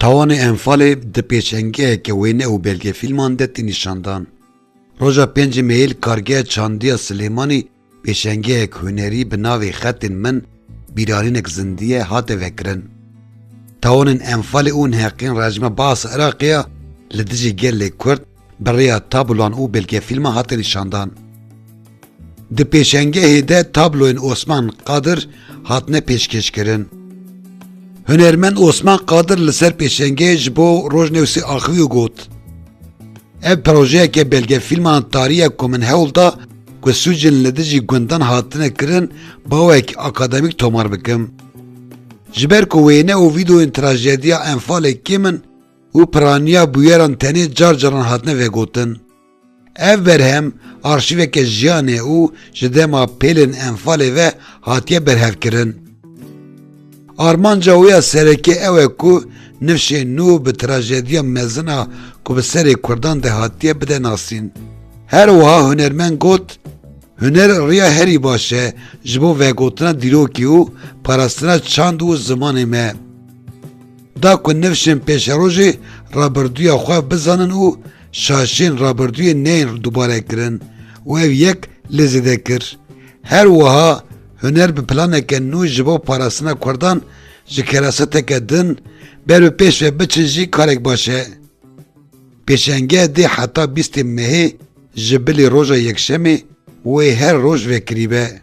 Tawanê Enfalê di pêşengeheke wêne û belgefîlman de tê nîşandan. Roja pêncî Meyê li Kargeha Çandî ya Silêmanî pêşengehek hunerî bi navê Xetên min bîranînek zindî ye hate vekirin. Tawanên Enfalê û neheqîn rejima baas Iraqê ya li dijî gelê Kurd Bi rêya tabloan û belgefîlman hate nîşandan. Di pêşengehê de tabloyên Osman Qadir hatine pêşkêşkirin. Hunermend Osman Qadir li ser pêşengehê ji bo Rojnewsê axiviyo got, Ev projeyeke belgefîlman tariye ku min hewl da ku sûcên li dijî gundan hatine kirin bawek akademîk tomar bikim. Ji ber ku wêne û vîdeoyên trajediya Enfalê kêm in, û piraniya bûyeran tenê car caran hatine vegotin. Ev berhem arşîveke jiyan e û ji dema pêlên Enfalê ve hatiye berhevkirin. Armanca wê ya serekî ew e ku nifşê nû bi trajediya mezin a ku bi serê Kurdan de hatiye bide nasîn. Her wiha hunermend got, Huner riya herî baş e ji bo vegotina dîrokî û parastina çand û zimanê me. Da ku nifşên pêşerojê rabirdûya xwe bizanin û şaşên rabirdûyê neyên dubare kirin û ev yek lê zêde kir. Her wiha huner bi planeke nû ji bo parastina Kurdan ji keraseteke din ber û pêş ve biçin jî karek baş e. Pêşengeh dê heta bîstê mehê ji bilî roja yekşemê wê her roj vekirîbe.